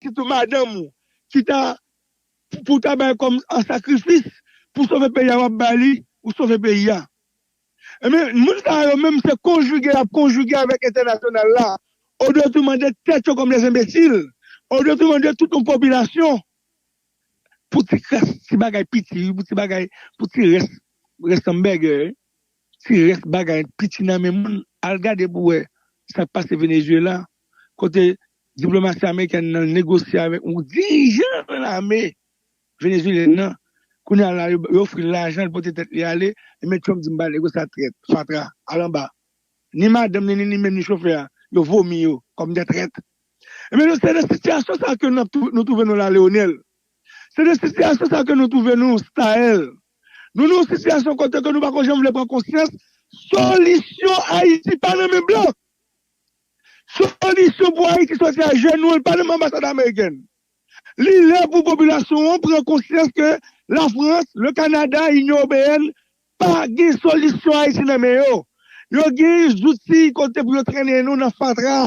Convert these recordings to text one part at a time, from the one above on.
Sitou madanm ou ki ta pou w ta bay kòm an sakrifis pou sove peyi a wap bay li pou sove peyi a. Ebyen moun sa yo menm se konjige yap konjige avèk entènasyonal la o detouman de tèt yo kòm des enbesil, o detouman de tout yon popilasyon pou ti kras ti bagay piti wi pou ti bagay pou ti rès rès anbègè wi. Ti rès bagay piti nan men moun, al gade pou wè sa k pase Venezuela kote diplomasi amerikèn nan negosye avèk yon dirijan lame venezuelyèn nan, kounye a la yo ofri l lajan l pote tèt li ale, men Trump di m pa negosye ak trèt, fatra, al anba. Ni madanm ni li menm ni chofè a, yo vomi yo kòm de trèt. Ebyen nou se nan sitiyasyon sa ke nou twouve nou la Leonel, se nan sitiyasyon sa ke nou twouve nou Staëlle. Nou nan yon sitiyasyon kote ke nou pako janm vle pran konsyans solisyon Ayiti pa nan men blan. Solisyon pou Ayiti soti a jenou an li pa nan men anbasad amerikèn. Li lè pou popilasyon an pran konsyans ke Lafrans, le Kanada, Inyon Ewopeyèn pa gen solisyon Ayiti nan men yo. Yo gen zouti kote pou yo trennen nou nan fatra.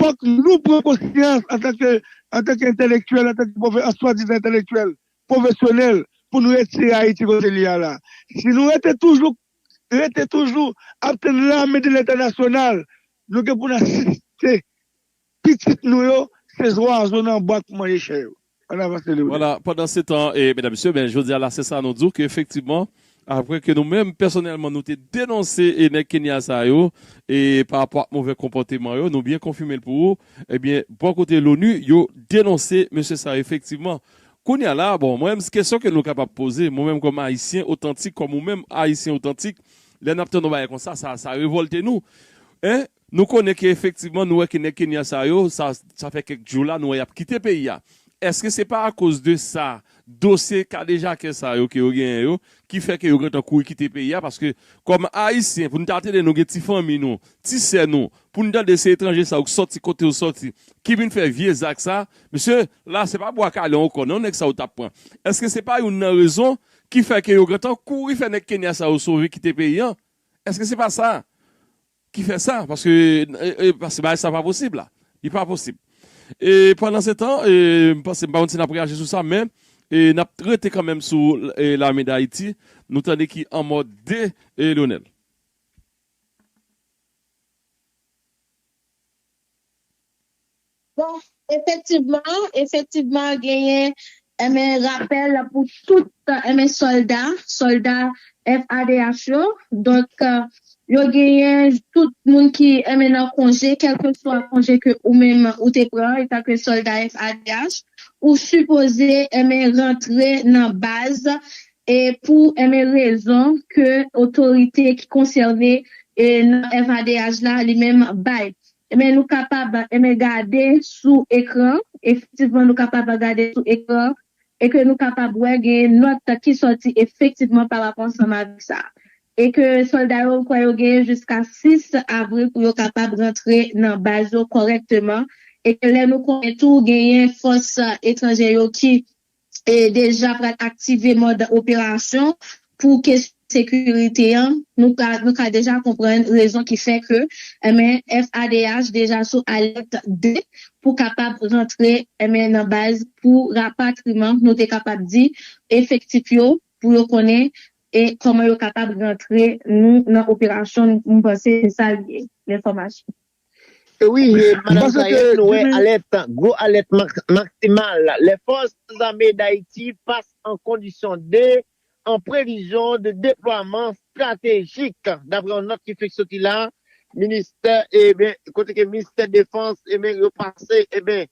Fòk nou pran konsyans antanke antanke entèlektyèl, antanke pwofè an swadizan entèlektyèl pwofesyonèl pou nou retire Ayiti kote li a la. Si nou rete toujou rete toujou ap tann lame de lentènasyonal, nou gen pou n asiste pitit nou yo se zwazo nan bwa k pou manje chè yo. An avans Lele ou Dèy. Voilà, pandansetan, e medam mesye, men jodi a la se sa nou di w ke efektivman, aprè ke nou menm pèsonèlman nou te denonse e nèg Kenya sa yo, e pa rapò ak movè konpòteman yo, nou byen konfime l pou ou, ebyen bò kote Loni yo denonse mesye sa yo efektivman. Kounye a la, bon, mwen menm s kesyon ke nou kapab poze, mwen menm kòm ayisyen otantik, kòm ou menm ayisyen otantik, lè n ap tande yon bagay konsa, sa sa revòlte nou. E, Nou konnen ke efektivman nou wè ke nèg Kenya sa yo, sa fè kèk jou la nou wè yap kite peyi a. Eske se pa akoz de sa, dosye kadejakè sa yo ke yo genyen yo, ki fè ke yo gentan kouri kite peyi a, paske kòm Ayisyen pou nou ta tande nou gen ti fanmi nou, ti sè nou, pou nou tande se etranje sa yo ki sòti kote yo sòti, ki vin fè vye zak sa, mesye, la se pa bwa kale ankò non nèg sa yo tap pran. Eske se pa youn nan rezon ki fè ke yo gentan kouri fè nèg Kenya sa yo sove kite peyi an? Eske se pa sa? Ki fè sa, paske, e, paske bagay sa pa posib la. Li pa posib. E, pandansetan, e, m panse, m pa konn si n ap reyaji sou sa, men, e, n ap rete kanmenm sou, e, lame Dayiti, nou tande ki anmò de, e, Lyonel. Bon, efektivman, efektivman genyen, enben, rapèl pou tout, enben, sòlda, sòlda FADH yo. Donk, yo genyen tout moun ki, enben, nan konje, kèlkeswa konje ke ou menm ou te pran etanke sòlda FADH, ou sipoze, enben, rantre nan baz e pou, enben, rezon ke otorite ki konsène nan FADH la li menm bay. Enben nou kapab enben gade sou ekran, efektivman nou kapab gade sou ekran e ke nou kapab wè genyen nòt ki sòti efektivman pa rapo ansanm avèk sa e ke sòlda yo kwè yo genyen jiska 6 avril pou yo kapab rantre nan baz yo kòrèkteman e ke lè nou konnen tou genyen fòs etranjè yo ki deja pral aktive mòd operasyon pou kesyon sekirite an, nou ka deja konprann rezon ki fè ke FADH deja sou alèt 2 pou kapab rantre nan baz pou rapatriman, nou te kapab di, efektif yo pou yo konnen kòman yo kapab rantre nou nan operasyon, m panse se sa l ye, lènfòmasyon. Wi, Madam Sayèn, nou wè alèt, gwo alèt maksimal lè fòs zame Dayiti fas an kondisyon de an previzyon de deplwaman stratejik, dapre yon nòt ki fenk soti la, ministè e ben kote ke ministè defans e ben yo pase e ben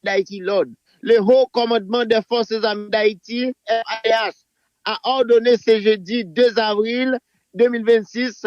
Dayiti lòd. Le Haut Commandement des Forces Armées d'Haïti, FADH, a ordonné ce jeudi 2 avril 2026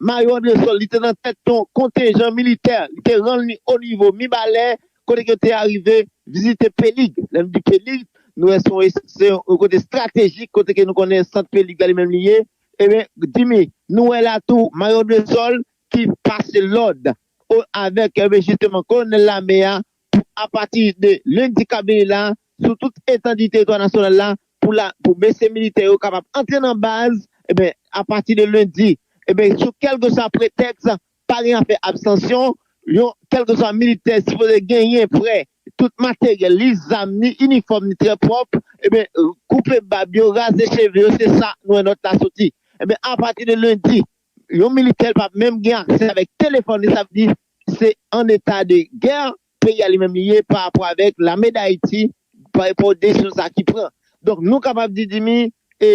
Mayo Andresol, li te nan tèt yon kontenjan militè, li te rann li o nivo Mibalè, kote ke yo te arive vizite Pelig. Lè nou di Pelig, nou wè se yon, se yon kote estratejik, kote ke nou konnen sant Pelig la li menm li ye. Ebyen, Dimy, nou wè la tou Mayo Andresol ki pase lòd o avèk, ebyen jisteman kolonèl lame a Apati de lendi k ap vini la, sou tout etandi teritwa nasyonal la, pou la, pou mesye militè yo kapab antre nan baz, eben, apati de lendi, eben, sou kèlkeswa pretèks, pa gen afè abstansyon, yon kèlkeswa militè sipoze genyen prè tout materyèl li, zam, ni inifòm ni trè pwòp, eben, koupe bab yo, raze cheve yo, se sa nou wè nòt la soti. Eben, apati de lendi, yon militè pa p menm gen aksè avèk telefòn li, sa vle di se an eta de gè peyi a li menm li ye pa rapò avèk lame dayiti pa rapò desizyon sa ki pran donk nou kapab di dimi e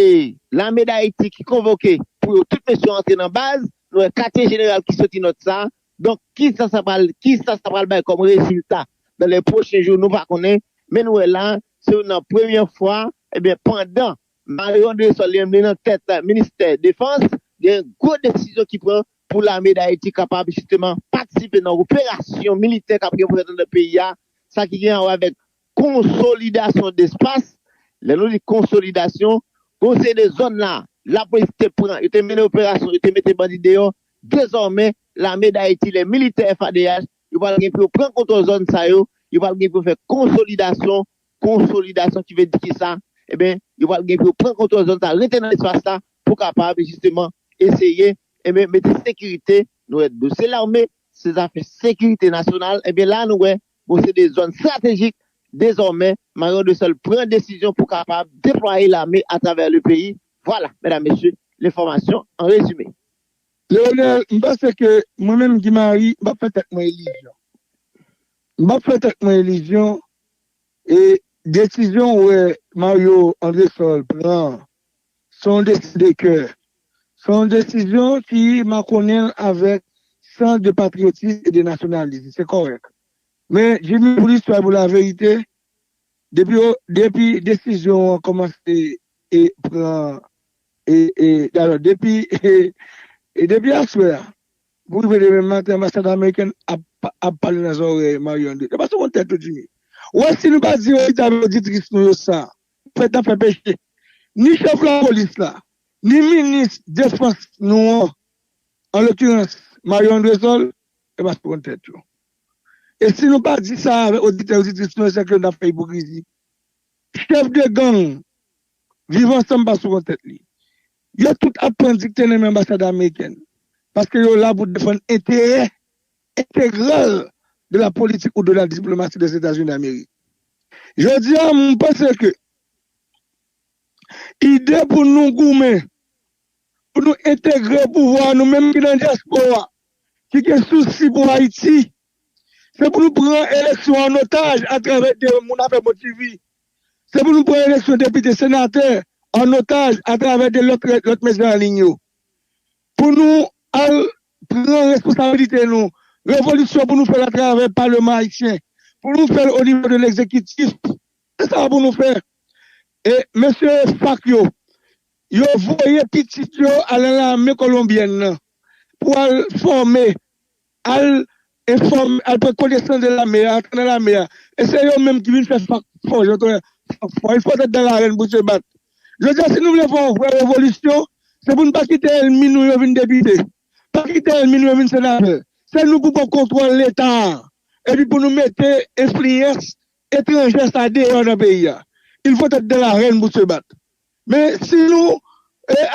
lame dayiti ki konvoke pou yo tout mesye yo antre nan baz nou wè katye jeneral ki soti nòt sa donk kisa sa pral kisa sa pral bay kòm rezilta nan lè pwochen jou nou pa konnen men nou wè la se youn nan premyè fwa ebyen pandan Mario Andresol li menm li nan tèt ministè defans gen gwo desizyon ki pran Pou lame Dayiti kapab jisteman patisipe nan operasyon militè k ap gen pou fèt anndan peyi a, sa ki gen awè avèk konsolidasyon despas, lè nou di konsolidasyon, gen yon seri de zòn la, lapolis te pran, yo te mennen operasyon, yo te mete bandi deyò, dezòmè, lame Dayiti, lè militè FADH, yo pral gen pou yo pran kontwòl zòn sa yo, yo pral gen pou yo fè konsolidasyon, konsolidasyon ki vle di kisa? Enben, yo pral gen pou yo pran kontwòl zòn sa, rete nan espas la pou kapab jisteman eseye enben mete sekirite nou wè do se lame se zafè sekirite nasyonal enben la nou wè bon se de zòn stratejik dezòmè mayon de sòl pran desizyon pou kapab deplwaye lame atravè le peyi vwala medam mesye lenfòmasyon an rezime. Leonel, m panse ke mwen menm Guy Marie m pap fè tèt mwen ilizyon. M pap fè tèt mwen ilizyon e desizyon ou wè Mario Andresol pran an Se yon desizyon de kè. Se yon desizyon ki makonnen avèk sans de patriotisme et de nationalisme. Se kòrèk. Men, Jimmy, pou listwa e pou laverite, depi yo, depi desizyon an kòmanse e pran e, e, dalò, depi e, e depi aswè a pou rive demen maten anbasad amerikèn ap, ap pale nan zòrèy Mario André. Yo pa sou kont tèt yo, Jimmy. Ou wè si nou pa di oditè ak oditris nou yo sa, nou fèt nan fè peche. Ni chèf lapolis la, ni minis defans nou an, an lokirans Mario Andresol, yo pa soukonn tèt yo. E si nou pa di sa avèk oditè oditris nou yo sèke n ap fè ipokrizi. Chèf de gang Viv Ansanm pa soukonn tèt li. Yo tout ap pran dikte nan men anbasad amerikèn paske yo la pou defann enterè entegral de la politique ou de la diplomatie des États-Unis d'Amérique. Jodi a, m panse ke ide pou nou goumen, pou nou entegre pouvwa a, nou menm ki nan dyaspora, ki gen sousi pou Ayiti, se pou nou pran eleksyon an otaj atravè de moun a fè bon ti vi, se pou nou pran eleksyon depite, senatè an otaj atravè de lòt mèsenè anliy yo. Pou nou al pran responsabilite nou. Revolisyon pou nou fè l atravè paleman ayisyen. Pou nou fè l o nivo de legzekitif. Se sa pou nou fè. E mesye FARC yo, yo voye pitit yo al nan lame kolonbyèn nan pou al fòme al enfòme, al pran konesans de lame a, antre nan lame a, e se yo menm ki vin fè fak fò, jan tonnè fak fò, il faut être dans l'arène pour se battre. Jodi a si nou vle fè yon vrè revolisyon, se pou nou pa kite ènmi nou yo vin depite, pa kite ènmi nou yo vin senatè, se nou pou pran kontwòl leta a, epi pou nou mete enfliyans etranjè sa deyò nan peyi a, il faut être dans l'arène pour se battre. Men si nou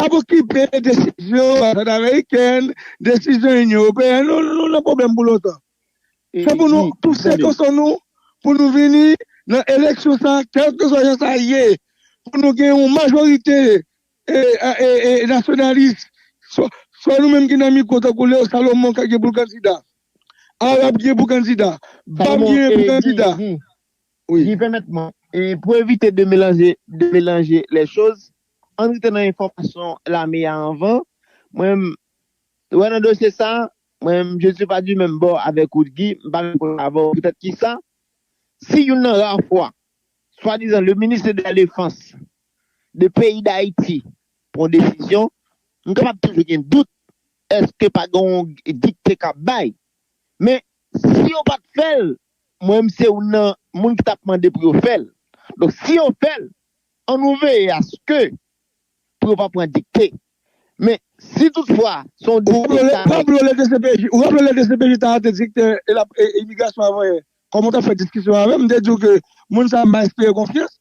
ap okipe desizyon anbasad amerikèn, desizyon Inyon Ewopeyèn, nou nan pwoblèm pou lontan. Se pou nou pouse koson nou pou nou vini nan eleksyon sa a kèlkeswa jan sa ye, pou nou gen yon majorite nasyonalis, swa nou menm ki nan mikwo tankou Leo Salomon k ap gen pou l kandida, Arab gen pou kandida, Bab gen pou kandida. Wi pèmèt mwen, pou evite de melanje de melanje lè choz, ann rete nan enfòmasyon lame a anvan, mwen menm wè nan dosye sa, mwen menm je ne suis pas du même bord avec ou Guy, m pa menm kote avè w poutèt kisa, si youn nan rare fwa swadizan le ministre de la defense de peyi dayiti pran desizyon, m kapab toujou gen dout èske pa gen yon dikte k ap bay, men si yo pa t fè l, Mwen menm se youn nan moun ki tap mande pou yo fèl. Donk si yo fèl, an nou veye aske pou yo pa pran dikte. Men si tout fwa se yon dikte ki ta fèt. Ou raple lè dcpj, ou raple lè dcpj ta arete dikte e lap imigrasyon avan yè. Kòm ou tap fè diskisyon avèm, m te diw ke moun sa m pa enspire konfyans.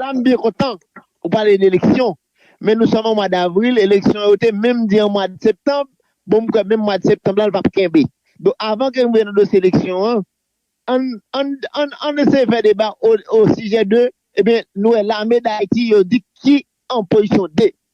La m byen kontan ou pale de eleksyon, men nou sòm an mwa davril, eleksyon yo te menm di an mwa de septanm, bon m kwè menm mwa de septanm la l pap kenbe. Donk avan ke nou rive nan dosye eleksyon an, ann eseye fè deba osijè de, ebyen nou wè lame dayiti yo di ki an pozisyon de.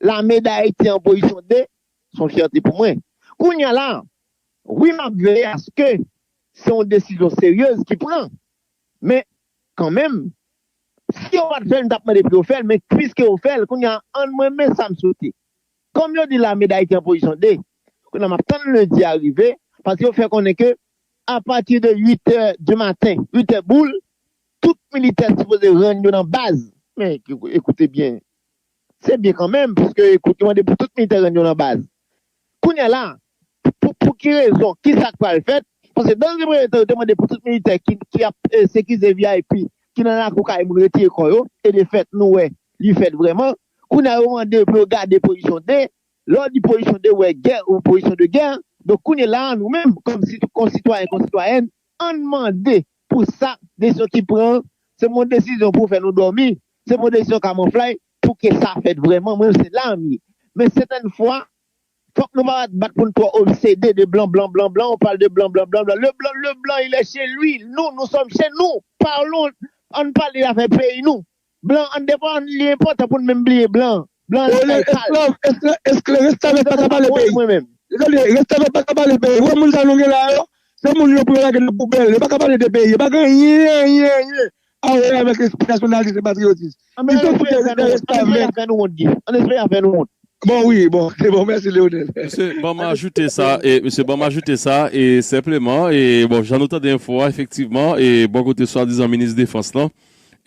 Lame Dayiti an pozisyon 2, son fyète pou mwen. Kounya la, wi map veye aske se yon desizyon seryez ki pran, men kanmenm, si yo pat fèl m tap mande pou yo fèl, men pwiske yo fèl, kounya an mwen men sam swete. Kòm yo di Lame Dayiti an pozisyon 2, kounya map tann lendi a rive, paske yo fè konnen ke apati de 8 tè di maten, 8 tè boul, tout militè sipoze rann yo nan baz. Men, ekoute byen, Se byen kanmenm puiske yo mande pou tout militè rann yo lan baz. Kounyea la, pou ki rezon, ki sa k pral fèt? Paske dans un premier temps yo te mande pou tout militè ki ap sekize vip, ki nan lakou kay moun retire kò yo e de fèt nou wè li fèt vrèman. Kounyea yo mande pou yo gade pozisyon de, lè w di pozisyon de ou wè gè, pozisyon de gè. Donk kounyela nou menm kòm sitwayen, konsitwayèn Ann mande pou sa desizyon ki pran an se bon desizyon pou fè nou dòmi, se bon desizyon kamonflay pou ke sa fèt vrèman, mwen se la m ye. Men sètèn fwa, fòk nou pa bat bat pou n twò obsede de blan blan blan blan, on parle de blan blan blan blan, le blan le blan il est chez lui, nou nou sòm chez nous, parlons, ann pale afè peyi nou. Blan an devan an li enpòtan pou n menm bliye blan blan an se kay sal Restavèk pa ka pale peyi Restavèk pa ka pale peyi ou wè moun sa nou gen la yo se moun yo pou yo lage nan poubèl yo pa ka pale de peyi yo pa gen anyen anyen anyen a wè avèk espri nasyonalist e patriyotis An nou espere yo fè nou wont An nou espere y ap fè nou wont Guy An nou espere y ap fè nou wont Bon wi bon se bon mèsi Leonel. Mesye banm ajoute sa e mesye banm ajoute sa e senpleman e bon jan nou tande enfo a efektivman e bò kote swadizan minis defans lan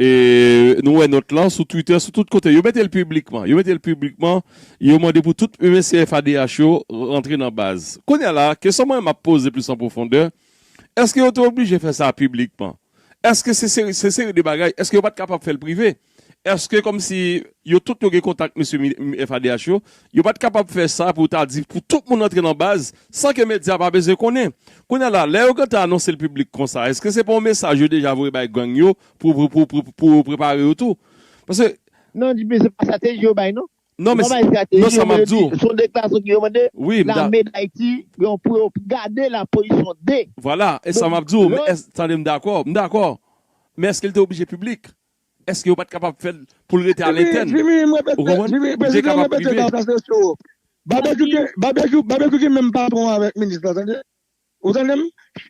E nou wè nòt lan sou Twitter, sou tout kote. Yo mete l piblikman. Yo mete l piblikman. Yo mande pou tout mesye FADH yo rantre nan baz. Kounye a la, kesyon mwen m ap poze plis an pwofondè, èske yo te oblije fè sa piblikman? Èske se seri se seri de bagay, èske yo pa t kapab fè l prive? Èske kòmsi yo tout yo gen kontak mesye FADH yo, yo pa t kapab fè sa pou ta di pou tout moun rantre nan baz? San ke medya pa bezwen konnen. Kounye a la, lè yo gentan anonse l piblik konsa, eske se pa yon mesaj yo deja voye bay gang yo pou pou yo prepare yo tou? Paske. Non, men se pa strateji yo bay non. Non, men se. Yo pa bay strateji, yo vle di, se yon deklarasyon ki remande. Wi, m da. Lame Dayiti gen pou yo gade la pozisyon de. Vwala, e sa m ap di w, tande m dakò, m dakò. Men eske l te oblije piblik? Eske yo pat kapab fèl poul rete a lentèn ou konprann li te kapab prive. Babekyou babekyou gen menm patron avèk minis la tande ou tandem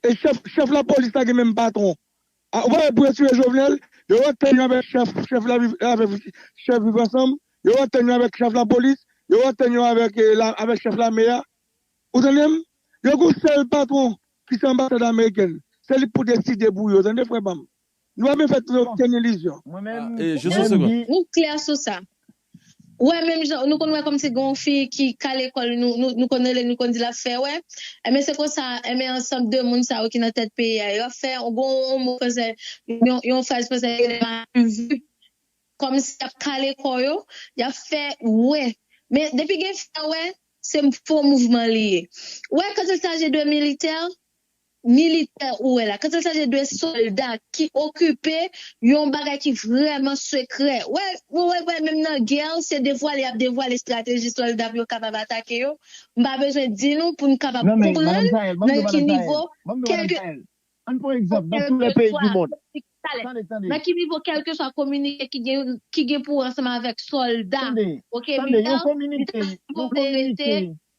e chèf chèf lapolis la gen menm patron a ou pa wè pou yo tire jovenel yo rantann yo avèk chèf chèf la avèk chèf viv ansanm yo rantann yo avèk chèf lapolis yo rantann yo avèk avèk chèf lame a ou tandem yo gon sèl patron kise anbasad amerikèn se li pou deside pou yo tande frè pam. Nou pa bezwen fè tro okenn ilizyon. Nou klè sou sa. Ou wè menm jan nou konn wè kòmsi gen yon fi ki ka lekòl nou konn rele nou konn di l ap fè wè. Enben se konsa enben ansanm de moun sa yo ki nan tèt peyi a yo ap fè gen yon mo fransè yon fraz fransè yo rele malvu kòmsi y ap kale kò yo y ap fè wè. Men depi gen fè wè se fo mouvman li ye. Ou wè kantik sa je dois militaire militè ou wè la, kantil chaje de solda ki okipe yon bagay ki vrèman sekrè. Wè, ou wè wè menm nan gè, se devwale y ap devwale estrateji solda pou yo kapab atake yo. M pa bezwen di nou pou nou kapab Non men, Madam konprann Jael, banm nan do ki Madam Jael, nivo banm do Madam kèlke Jael. An pran egzanp, nan tou lè peyi kèlkeswa di mond. kominike tale, Tande, tande. nan ki nivo kèlkeswa kominike ki gen ki gen pou wè ansanm avèk solda, Tande, ok, tande, yon militè, li ta kominike, yon sipoze rete kominike.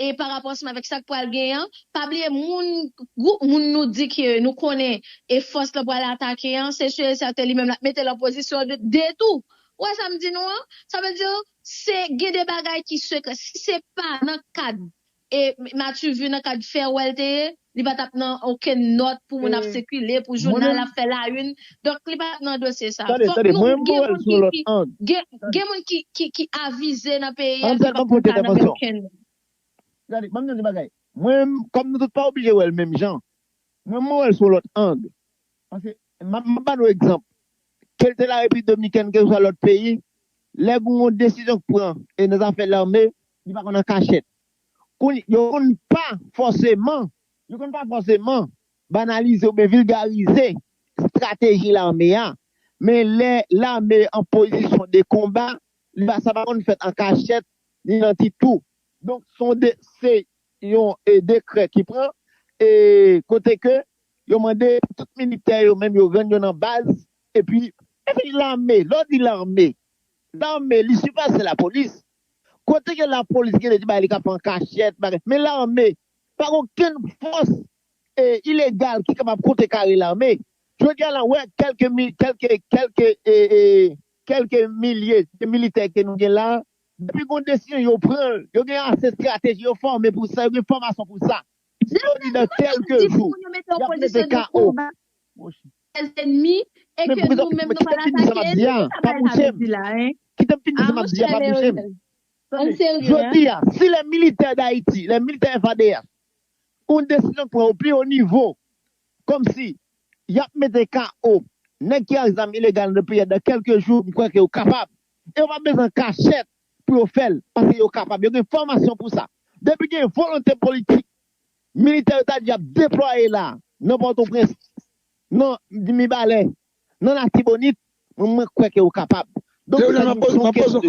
E pa rapò ansanm avèk sa k pral gen an, pa bliye moun, gwoup moun nou di ke nou konnen e fòs lan pral atake an, se sur et certain li menm l ap mete l an pozisyon de detou. Ou wè sa m di nou an? Sa vle di se gen de bagay ki sekrè. Si se pa nan kad e Maturvue, nan kad Ferwel te ye, Li pa tap nan okenn nòt pou moun ap sikile, pou jounal ap fè la une. Donk li pat nan dosye sa. Fòk nou gen moun ki ki gen gen moun ki ki ki avize nan peyi a ki pap fè sa nan men okenn moun. Gade, banm di nou yon bagay. Mwen menm, kòm nou tout pa oblije wè l menm jan, mwen menm mwen wè l sou yon lòt ang. Paske, map map ba nou egzanp. Ke l te la Repiblik Dominikèn, keseswa lòt peyi, lè gen yon desizyon k pran e nan zafè lame, li pa konn an kachèt. Kounye, yo konn pa fòseman, yo konn pa fòseman banalize oubyen vilgarize estrateji lame a, men lè lame an pozisyon de konba, li pa, sa pa konn fèt an kachèt, ni nan ti tou. Donk, se yon de, se yon e dekrè ki pran, e kote ke yo mande pou tout militè yo menm yo rann yo nan baz, epi, epi lame, lè w di lame, lame li sipase lapolis, Kote gen lapolis gen de ti bagay li ka fè an kachèt bagay men lame pa gen okenn fòs e ilegal ki kapab kontre kare lame jodi a la ou wè kèlke mi kèlke kèlke e e kèlke milye de militè ke nou gen la depi gon desizyon yo pran l yo gen ase estrateji yo fòme pou sa yo gen fòmasyon pou sa si yo di nan kèlke jou yap mete KO. sèl enmi e ke nou menm nou pa al atake li, ki sa bagay sa vle di la hein? Ah mon chè Leonel, ann serye hein. Jodi a, si lè militè Dayiti, lè militè FADH, oun desizyon k pran o pi o nivo, kòm si y ap mete KO nèg ki ak zam ilegal nan peyi a dan kèlke jou, m kwè ke yo kapab. E yo pa bezwen an kachèt pou yo fè l, paske yo kapab. Yo gen fòmasyon pou sa. Depi gen volonte politik, Militè yo ta di ap deplwaye la nan Pòtoprens, nan Mibalè, nan Latibonit, mwen kwè ke yo kapab. Donk sa di m son kesyon de.